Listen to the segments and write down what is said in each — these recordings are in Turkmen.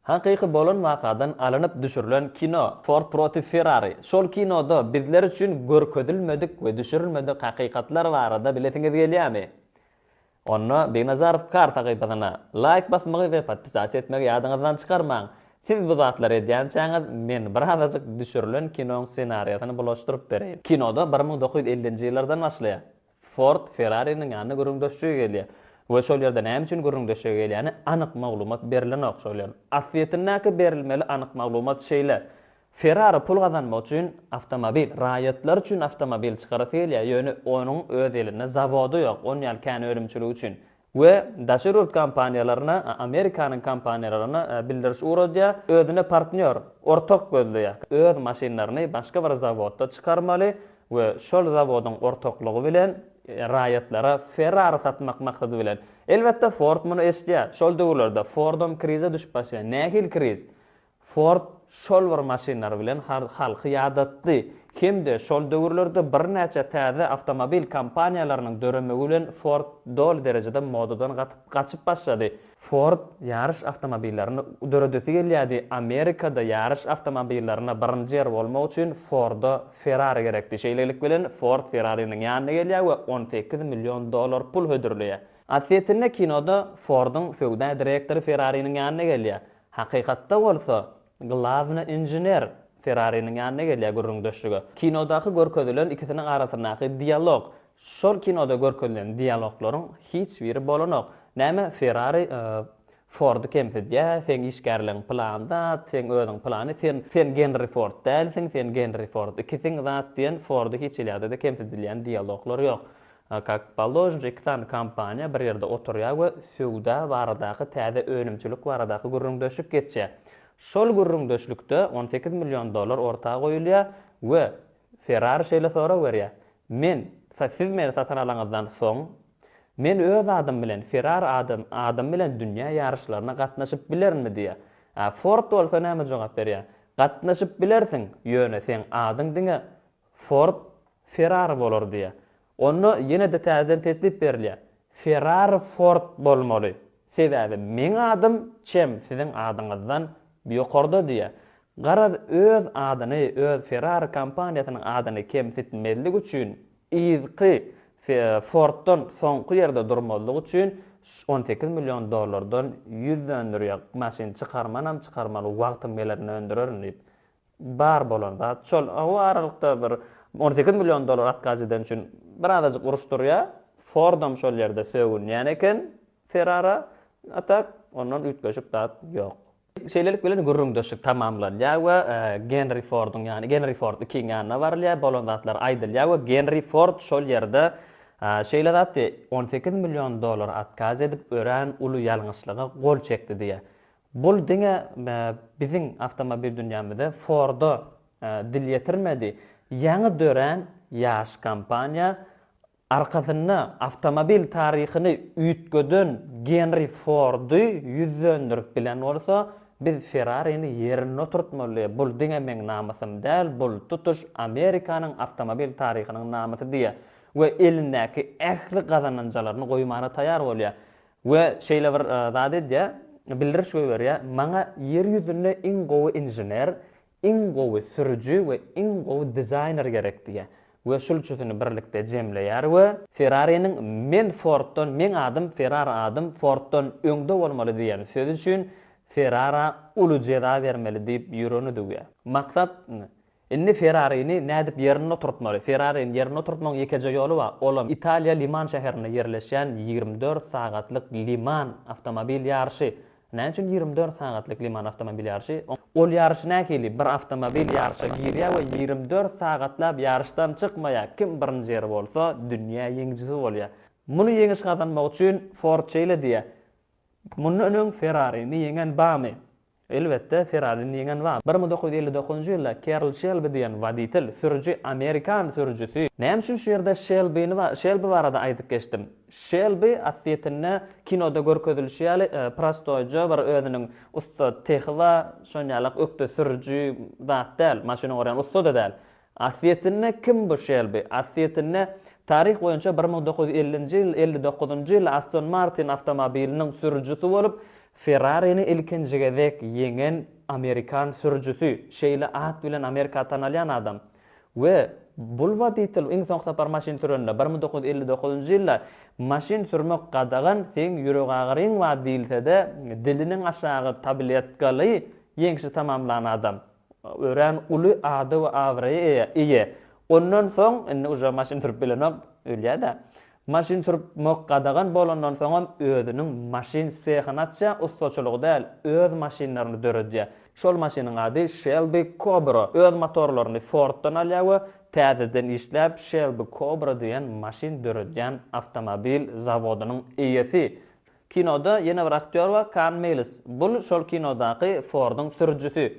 Hakyky bolan wakadan alynyp düşürilen kino Ford protiv Ferrari. Şol kinoda bizler üçin görkezilmedik we düşürilmedik hakykatlar barada bilesiňiz gelýämi? Onda Begnazarow kar sahypasyna laýk basmagy we podpisasiýa etmegi ýadyňyzdan çykarmaň. Siz bu zatlary edýänçäňiz men birazajyk düşürilen kinoň ssenariýasyny bulaşdyryp bereýin. Kinoda bir müň dokuz ýüz ellinji ýyllardan başlaýar. Ford Ferrariniň ýanyna gürrüň döşlige gelýär we şol ýerde näme üçin gürrüň döşlige gelýäni anyk maglumat berilenok. Şol ýeriň asyýetindäki berilmeli anyk maglumat şeýle, Ferrari pul gazanmak üçin awtomobil, raýatlar üçin awtomobil çykarasy gelýär, ýöne onuň öz elinde zawody ýok, on ýaly kän önümçiligi üçin we daşary ýurt kompaniýalaryna, Amerikanyň kompaniýalaryna bildiriş ugradýar, özüne partnýor, ortak gözleýär, öz maşynlaryny başga bir zawodda çykarmaly we şol zawodyň ortaklygy bilen raýatlara Ferrari satmak maksady bilen. Elbetde, Ford muny eşidýär. Şol döwürlerde Fordam krize düşüp başlaýar. Nähili kriz? Ford şol bir maşynlary bilen halky ýadatdy hem-de şol döwürlerde birnäçe täze awtomobil kompaniýalarynyň döremegi bilen Ford doly derejede modadan gaçyp başlady. Ford ýaryş awtomobillaryny döredesi gelýärdi, Amerikada ýaryş awtomobillaryna birinji ýer bolmak üçin Forda Ferrari gerekdi. Şeýlelik bilen Ford Ferrariniň ýanyna gelýär we on sekiz million dollar pul hödürleýär. Aslýetinde kinoda Fordyň söwda direktory Ferrariniň ýanyna gelýär. Hakykatda bolsa, glawny inžener Ferrariniň ýanyna gelýär gürrüňdeşlige. Kinodaky görkezilen ikisiniň arasyndaky dialog, şol kinoda görkezilen dialoglaryň hiç biri bolanok. Näme, Ferrari Fordy kemsidýär, seň işgärligiň pylan zat, seň özüň pylany, sen, sen Genri Ford dälsiň, sen Genri Ford, ikisiň zat diýen Fordy hiç elýada-da kemsidilýän dialoglar ýok. A kak polojnj iki sany kompaniýa bir ýerde oturýar we söwda baradaky täze önümçilik baradaky gürrüňdeşlik geçýär. Şol gürrüňdeşlikde on sekiz million dollar orta goýulýar we Ferrari şeýle sorag berýär, Men, siz meni satyn alaňyzdan soň, men öz adym bilen, Ferrari ady, adym bilen dünýä ýaryşlaryna gatnaşyp bilerinmi diýýär. A Ford bolsa näme jogap berýär, Gatnaşyp bilersiň, ýöne seň adyň diňe Ford Ferrari bolar diýýär. Onda ýene-de täzeden teklip berilýär. Ferrari Ford bolmaly. Sebäbi meň adym çem siziň adyňyzdan ýokarda diýýär. Garaz öz adyny, öz Ferrari kompaniýasynyň adyny kemsitmezlik üçin, yzky Forddan soňky ýerde durmazlyk üçin on sekiz million dollardan ýüz döndürýär. Maşyn çykarmanam çykarmaly, wagtym gelende öndürerin diýip. Bar bolan zat şol. O aralykda bir on sekiz million dollar atkaz eden üçin birazajyk uruş durýar. Fordam şol ýerde sögünýän eken Ferrara. A tak, ondan üýtgeşik zat ýok. Şeýlelik bilen gürrüňdeşlik tamamlanýar we Genri Forduň ýany, Genri Ford ikiň ýanyna barylýar, bolan zatlar aýdylýar we Genri Ford şol ýerde şeýle zat diýýär, On sekiz million dollar atkaz edip örän uly ýalňyşlyga gol çekdi diýýär. Bul diňe biziň awtomobil dünýämize Ford-a dil ýetirmedi. Ýaňy dörän ýaş kompaniýa arkasynda awtomobil taryhyny üýtgeden Genri Fordy ýüzlendirip bilen bolsa, biz Ferrarini ýerinde oturtmaly, bul diňe meň namysym däl, bul tutuş Amerikanyň awtomobil taryhynyň namysy diýýär we elindäki ähli gazananjalaryny goýmana taýar bolýar. We şeýle bir zat edýär, bildiriş goýberýär, Maňa ýer ýüzünde iň gowy inžener, iň gowy sürüji we iň gowy dizaýner gerek diýýär. We şul üçüsini birlikde jemleýär we. Ferrariniň Men Forddan, meň adym Ferrara adym Forddan öňde bolmaly diýen sözi üçin Ferrara uly jeza bermeli diýip ýüregini düwýär. Maksat, Indi Ferrarini nädip ýerinde oturtmaly? Ferrarini ýerinde oturtmagyň ýekeje ýoly bar, olam Italiýa Liman şäherinde ýerleşýän ýigrimi dört sagatlyk Liman awtomobil ýaryşy. Näme üçin ýigrimi dört sagatlyk Liman awtomobil ýaryşy? Ol ýaryş nähili? Bir awtomobil ýaryşa girýär we ýigrimi dört sagatlap ýaryşdan çykmaýar. Kim birinji ýeri bolsa, dünýä ýeňijisi bolýar. Muny ýeňiş gazanmak üçin Ford şeýle diýýär, Mundan öň Ferrarini ýeňen barmy? Elbetde, Ferrari-ni ýeňen bar. Bir müň dokuz ýüz elli dokuzynjy ýylda Kerl Şelbi diýen woditel, sürüji, amerikan sürüjisi. Näme üçin şu ýerde Şelbini ba, Şelbi barada aýdyp geçdim? Şelbi, aslyýetinde, kinoda görkezilişi ýaly, prostoýja bir özüniň ussat sehi bar, şonýalak ökde sürüji zat däl, maşyn ogurýan ussa-da däl. Asliyetinde kim bu Şelbi? Asliyetinde taryh boýunça bir müň dokuz ýüz ellinji ýyl, elli dokuzynjy ýyl Aston Martin awtomobiliniň sürüjisi bolup, Ferrarini ilkinji gezek ýeňen amerikan sürüjisi, şeýle at bilen Amerika tanalýan adam. We bul woditel iň soňky sapar maşyn sürende, bir müň dokuz ýüz elli dokuzynjy ýylda maşyn sürmek gadagan, seň ýüregagyryň bar diýilsede, diliniň aşagy tabletkaly ýeňşi tamamlan adam. Örän uly ada we abraýa eýe, eýe. Ondan soň, indi uje maşyn sürüp bilenok, ölýä-dä. Maşyn sürüp mok gadagan bolandan soňam özüniň maşyn sehyny açýar, ussaçylygy däl, öz maşynlaryny döredýär. Şol maşynyň ady Shelby Cobra. Öz motorlaryny Forddan alýar we täzeden işläp Shelby Cobra diýen maşyn döredýän awtomobil zawodynyň eýesi. Kinoda ýene bir aktýor bar, Kann Meýls. Bul şol kinodaky Forduň sürüjisi.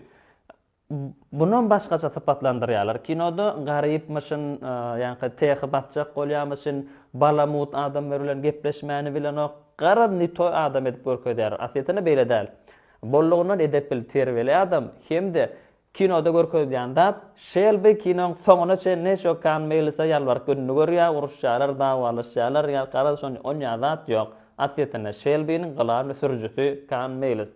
Bunam başgaça sypatlandyrýarlar. Kinoda garypmyşyn, ýaňky tehy batjak bolýamyşyn, balamut adamlar bilen gepleşmäni bilenok. Garaz ne toý adam edip görkezýär. Aslyýetinde beýle däl. Bollugyndan edepli, terbiýeli adam hem-de Kinoda görkezilýän zat, Şelbi kinoň soňuna çen neşo Kann Meýlisa ýalbaryp gününi görýär, uruşýarlar, dawalaşýarlar, ýa garaz şon on ýa zat ýok. Aslyýetinde Şelbiniň gylany sürüjisi Kann Meýlis.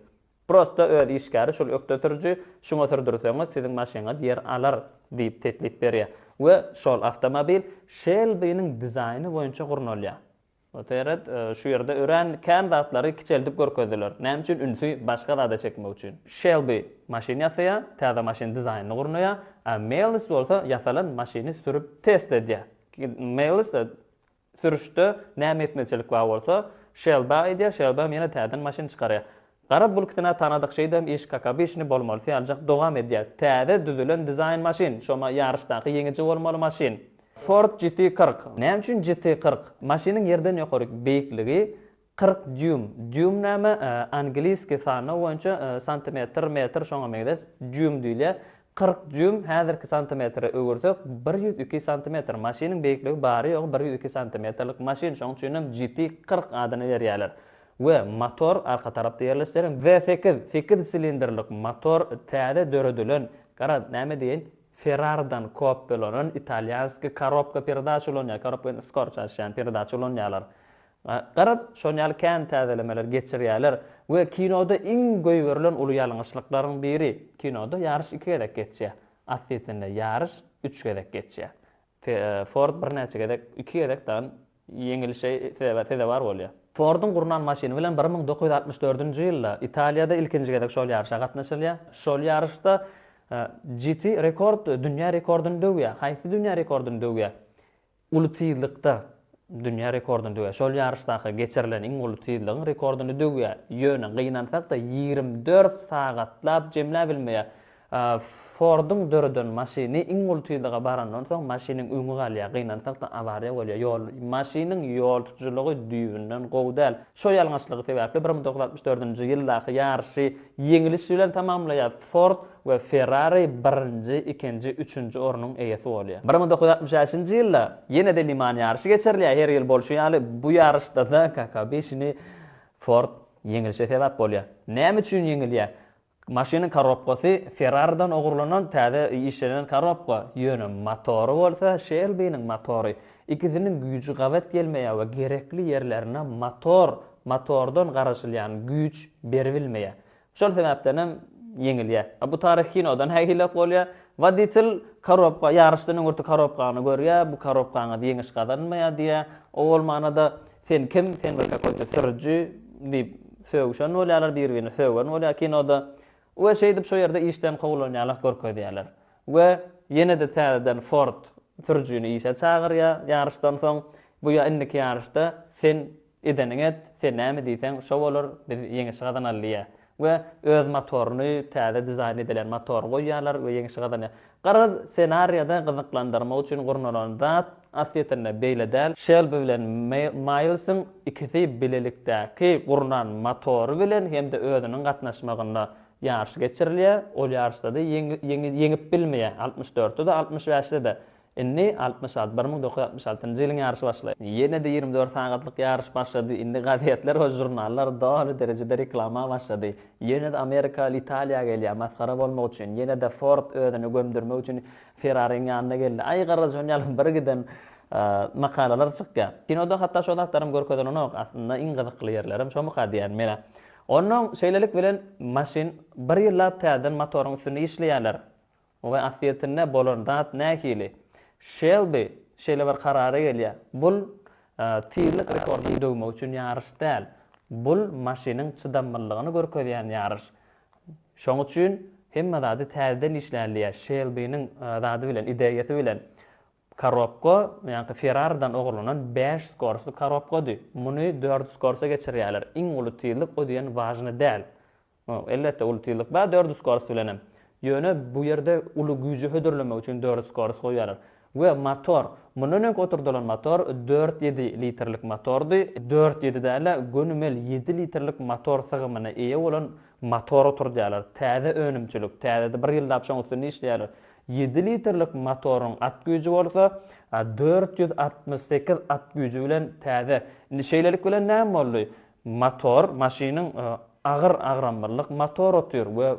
Prosta öz işgäri şul ökde sürüji, şuňa sürdürseňiz siziň maşyňyz ýer alar diýip teklip berýär we şol awtomobil Şelbiniň dizaýny boýunça gurnalýar. Oteret, şu ýerde örän kän zatlary kiçeldip görkezdiler. Näme üçin? Ünsi başga zada çekmek üçin. Şelbi maşyn ýasaýar, täze maşyn dizaýnyny gurnaýar, a Meýlis bolsa ýasalan maşyny sürüp test edýär. Meýlis sürüşde näme ýetmezçilik bar bolsa, Şelbä aýdýar, Şelbem ýene täzeden maşyn çykarýar. Garaz bul ikisine tanadyk şeýdem iş kakabişni bolmaly syýaljak dogam edýä. Täze düzülen dizaýn maşyn, şoma ýaryşdaky ýeňiji bolmaly maşyn. Ford GT kyrk. Näme üçin GT kyrk? Maşynyň ýerden ýokaryk beýikligi kyrk dýum. Dýum näme? Angliski sanlaw boýunça santimetr, metr şoňa meňzeş dýum diýilýä. Kyrk dýuym häzirki santimetre öwürsek bir ýüz iki santimetr maşynyň beýikligi bary ýogy bir ýüz iki santimetrlik maşyn şoň üçinem GT kyrk adyny berýäler we motor arka tarapda ýerleşdiren V sekiz sekiz silindrlik motor täze döredilen gara näme diýeýin Ferraridan kopýalanan italýanskiý korobka peredaç ulanýar korobka ýaly skor çalyşýan peredaç ulanýarlar Garaz, şonuň ýaly kän täzelemeler geçirýärler we kinoda iň goýberilen uly ýalňyşlyklaryň biri, kinoda ýaryş iki gezek geçýär, aslysynda ýaryş üç gezek geçýär. Ford birnäçe gezek, iki gezek dagy ýeňilişe sezewar bolýar. Forduň gurnan maşyny bilen bir müň dokuz ýüz altmyş dördünji ýylda Italiýada ilkinji gezek şol ýaryşa gatnaşylýar. Şol ýaryşda GT rekord dünýä rekordyny döwýär. Haýsy dünýä rekordyny döwýär? uly tizlikde dünýä rekordyny döwer. Şol ýaryşdaky geçirilen iň uly tizligiň rekordyny döwýär. Ýöne gynansak-da, ýigrimi dört sagatlap jemläp bilmeýär. Forduň döreden maşyny iň uly tizlige barandan soň, maşynyň öňi galýar. Gynansak-da, awariýa bolýar. Ýol, maşynyň ýol tutujylygy düýbünden gowy däl. Şo ýalňyşlygy sebäpli bir müň dokuz ýüz altmyş dördünji ýyldaky ýaryşy ýeňiliş bilen tamamlaýar. Ford we Ferrari birinji, ikinji, üçünji ornuň eýesi bolýar. Bir müň dokuz ýüz altmyş bäşinji ýylda ýene-de Le Mans ýaryşy geçirilýär, her ýyl bolşy ýaly, bu ýaryşda-da Kaka beşini Ford ýeňlişe sebäp bolýar. Näme üçin ýeňilýär? Maşynyň korobkasy Ferrari-den ogurlanan täze işlenen korobka, ýöne motory bolsa Şelbiniň motory. Ikisiniň güýji gabat gelmeýär we gerekli ýerlerine motor, motordan garaşylýan güýç beribilmeýär. Şol sebäpden hem ýeňilýär. A bu taryhy kinodan nägilek bolýar. Woditel korobka, ýaryşdan öňürti korobkany görýär, bu korobkaňyz ýeňiş gazanmaýar diýýär. O bolmana-da sen kim, sen bir kakoýda sürüji diýip sögüşen bolýarlar, bir-birini sögen bolýar kinoda. We şeýdip şo ýerde işden kowlanýarlyk görkezýärler. We ýene-de täzeden Ford sürüjini işe çagyrýar ýaryşdan soň. Bu ýa indiki ýaryşda sen Edeniňi et, sen näme diýseň şo bolar, biz ýeňiş gazanaly diýýär. We öz motoryny, täze dizaýn edilen motory goýýarlar we ýeňişi gazanýar. Garaz, ssenariýada gyzyklandyrmak üçin gurnalan zat, aslýetinde, beýle däl, Şelbi bilen Maýlsyň ikisi bilelikdäki gurnan motory bilen hem-de özüniň gatnaşmagynda ýaryş geçirilýär, ol ýaryşda-da ýeňip bilmeýär, altmyş dörtde-de, altmyş bäşde-de Indi altmyş alty, bir müň dokuz ýüz altmyş altynjy ýylyň ýaryşy başlaýar. Ýene-de ýigrimi dört sagatlyk ýaryş başlady. Indi gazetler we žurnallar doly derejede reklama başlady. Ýene-de amerikaly Italiýa gelýär, masgara bolmak üçin. Ýene-de Ford özüni gömdürmek üçin Ferrariň ýanyna geldi. Aý garrajon ýaly bir giden makalalar çykýar. Kinoda hatda şo zatlaram görkezilenok. Aslynda iň gyzykly ýerlerem şomuka diýýän menä. Onnoň şeýlelik bilen maşyn bir ýyllap täzeden motoryň üstünde işleýärler. We asliyetinde bolan zat nähili? Şelbi şeýle bir karara gelýär, bul tizlik rekordyny döwmek üçin ýaryş däl, bul maşynyň çydamlylygyny görkezýän ýaryş. Şoň üçin hemme zady täzeden işläli diýýär, Şelbiniň zady bilen, ideýasy bilen. Korobka ýaňky Ferraridan ogurlanan bäş skorsly korobkady, muny dört skorsa geçirýärler, iň uly tizlik o diýen wažny däl. Elbetde uly tizlik bar dördi skorast bilenem. Ýöne bu ýerde uly güýji hödürlemek üçin dördi skorast goýýarlar. We motor, mundan öňki oturdylan motor dört ýedi litrlik motordy, dört ýedi dälä gönümel ýedi litrlik motor sygymyna eýe bolan motor oturdýarlar. Täze önümçilik, täzede bir ýyldap şoň üstünde işleýärler. Ýedi litrlik motoryň at güýji bolsa dört ýüz altmyş sekiz at güýji bilen täze. Indi şeýlelik bilen näme boldy? Motor, maşynyň agyr agramlylyk motor otyr we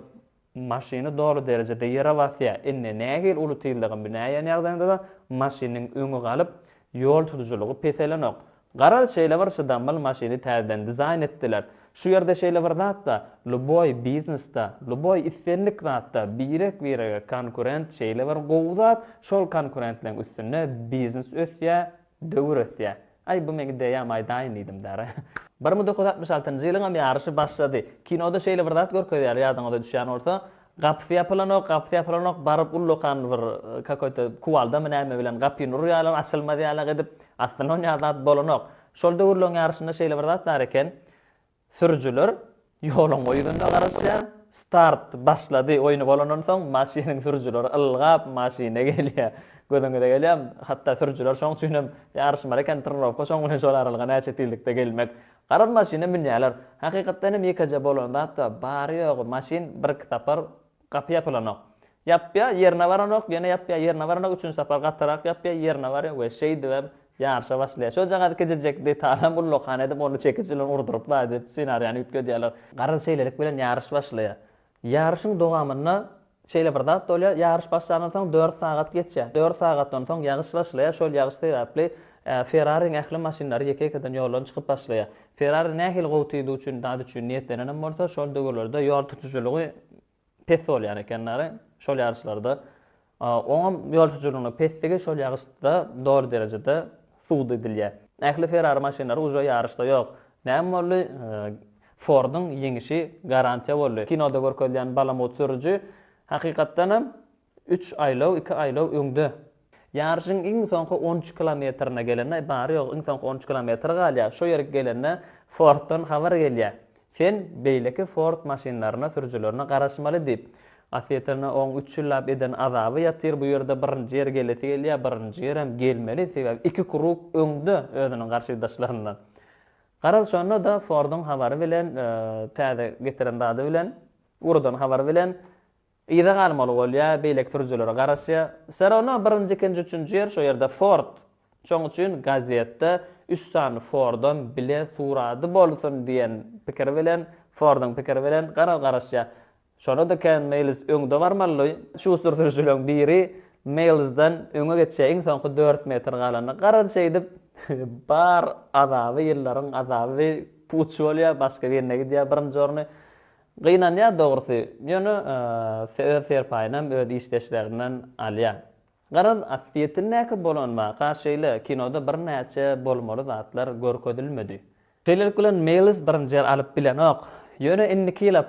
maşyny doly derejede ýere basýar. Indi nähili uly tizligiň bineýän ýagdaýynda-da maşynyň öňi galyp, ýol tutujylygy peselenok. Garaz, şeýle bir çydamly maşyny täzeden dizaýn etdiler. Şu ýerde şeýle bir zat-da, luboý biznesde, luboý islendik zatda birek-birege konkurent şeýle bir gowy zat, şol konkurentligiň üstünde biznes ösýär, döwür ösýär. Aý, bu meň ideýam, aýdaýyn diýdim däre. Bir müň dokuz ýüz altmyş altynjy ýylyňam ýaryşy başlady. Kinoda şeýle bir zat görkezýärler, ýadyňyza düşýän bolsa, gapysy ýapylanok, gapysy ýapylanok, baryp ullakan bir kakoýta kuwaldamy näme bilen gapyny urýarlar, açylmaz ýalak edip, aslynda oňa zat bolanok. Şol döwürleň ýaryşynda şeýle bir zat bar eken, Sürüjiler ýoluň o ýüzünde garaşýar. Start başlady oýny bolandan soň maşynyň sürüjileri ylgap maşyna gelýär. Gözüňize gelýärmi? Hatda sürüjiler şoň üçin hem ýaryşmaly eken, trenirowka şoň bilen şol aralyga näçe tizlikde gelmek. Garaz maşyna münýärler. Hakykatdan hem ýekeje bolan zat-a bary-ýogy maşyn birki sapar Gapy ýapylanok. Ýapýar, ýerine baranok, ýene ýapýar, ýerine baranok, üçünji sapar gatyrak ýapýar, ýerine barýar we şeýdibem ýaryşa başlaýar. Şojagaz kiçijekdi, talam ullakan edip, ony çekiç bilen urduryplar diýip, ssenariýany üýtgedýärler. Garaz şeýlelik bilen ýaryş başlaýar. Ýaryşyň dowamynda şeýle bir zat bolýar, ýaryş başlandan soň dört sagat geçýär. Dört sagatdan soň ýagyş başlaýar, şol ýagyş sebäpli Ferrariň ähli maşynlary ýeke-ýekeden ýoldan çykyp başlaýar. Ferrari nähili gowy tiz üçin zat üçin niýetlenenem bolsa, şol döwürlerde ýol tutujylygy pes bolýan eken dagy, şol ýaryşlarda. Oňam ýol tutujylygynyň pesdigi şol ýaryşda doly derejede subut edilýär. Ähli Ferrari maşynlary uje ýaryşda ýok. Näme boldy? Forduň ýeňişi garantiýa boldy. Kinoda görkezilýän balamut sürüji hakykatdanam Üç aýlaw, iki aýlaw öňde. Ýaryşyň iň soňky on üç kilometrine gelende, bary-ýogy iň soňky on üç kilometr galýar, şo ýere gelende Forddan habar gelýär, Sen beýleki Ford maşynlaryna, sürüjilerine garaşmaly diýip. Asýetine oň üç ýyllap eden azaby ýatyr, bu ýerde birinji ýer gelesi gelýär, birinji ýerem gelmeli, sebäbi iki krug öňde özüniň garşydaşlaryndan. Garaz, şonda-da Forduň habary bilen, täze getiren zady bilen, urudan habary bilen Yza galmaly bolýa, beýleki sürüjilere garaşýa. Serona birinji ikinji üçünji ýer şo ýerde Ford. Şoň üçin gazetde üç sany Fordam bile surady bolsun diýen pikir bilen, Fordyň pikiri bilen gara garaşýa. Şonada Ken Meýls öňde barmaly. Şuster sürüjileriň biri Meýlsden öňe geçýä iň soňky dört metr galanda. Garaz şeýdip bar azaby ýyllaryň azaby puç bolýa, başga birine gidýä birinji orny. Gynanýar dogrusy, ýöne öz serpaýynam öz işdeşlerinden alýar. Garaz, ossýetindäki bolanmaka şeýle kinoda birnäçe bolmaly zatlar görkezilmedi. Şeýlelik bilen Meýlis birinji ýer alyp bilenok. Ýöne indiki ýyla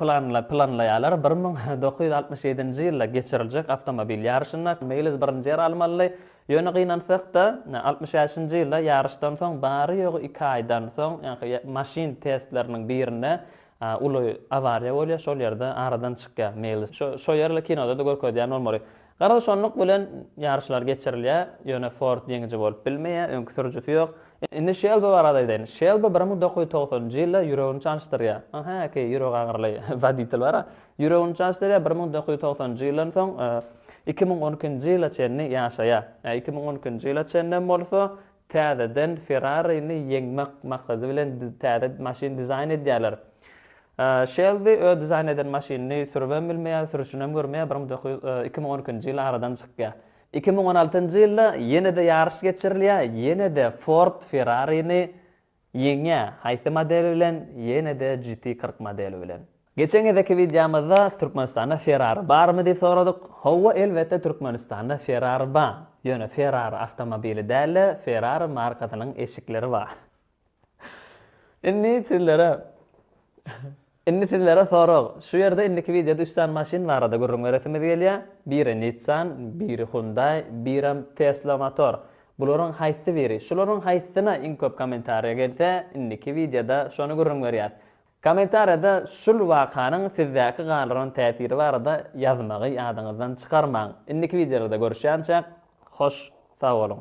planlaýarlar, bir müň dokuz ýüz altmyş ýedinji ýylda geçiriljek awtomobil ýaryşynda Meýlis birinji ýer almaly. Ýöne gynansak-da, altmyş bäşinji ýylda ýaryşdan soň bary-ýogy iki aýdan soň, maşyn testleriniň birinde Uly awariýa bolýar şol ýerde aradan çykýar Meýlis şo ýerli kinoda-da görkezýär nurmary Garaz şonluk bilen ýaryşlar geçirilýär ýöne Ford ýeňiji bolup bilmeýär öňki sürüjisi ýok Indi Şelbi barada aýdaýyn Şelbi bir müň dokuz ýüz togsan njy ýylda ýüregini çalyşdyrýar Aha ki ýüregi agyryly woditel bara ýüregini çalyşdyrýar bir müň dokuz ýüz togsan njy ýyldan soň iki müň on iki nji ýyla çenli ýaşaýar iki müň on iki nji ýyla çenlem bolsa Täzeden Ferrari-ni ýeňmek maksady bilen täze maşyn dizaýn edýärler. Şelbi öz dizaýn eden maşynyny sürübem bilmeýär, sürüşinem görmeýär, bir müň dokuz ýüz iki müň on ikinji ýyl aradan çykýar. Iki müň on altynjy ýylda ýene-de ýaryş geçirilýär, ýene-de Ford Ferrari-ni Ýeňňe, haýsy model bilen, ýene-de GT kyrk modeli bilen. Geçen gezeki wideomyzda Türkmenistanda Ferrari barmy diýip soradyk. Howwa elbetde Türkmenistanda Ferrari ba, ýöne Ferrari awtomobili dälde Ferrari markasynyň eşikleri ba. Indi sizlere. Indi sizlere sorag, şu ýerde indiki wideoda üç sany maşyn barada gürrüň beresimiz gelýär, biri Nissan, biri Hyundai, birem Tesla Motor. Bularyň haýsy biri, şularyň haýsysyna iň köp kommentariýa gelse, indiki wideoda şony gürrüň berýäs. Kommentariýada şul wakanyň sizdäki galdyran täsiri barada ýazmagy ýadyňyzdan çykarmaň. Indiki wideolarda görüşýänçäk, hoş sag boluň!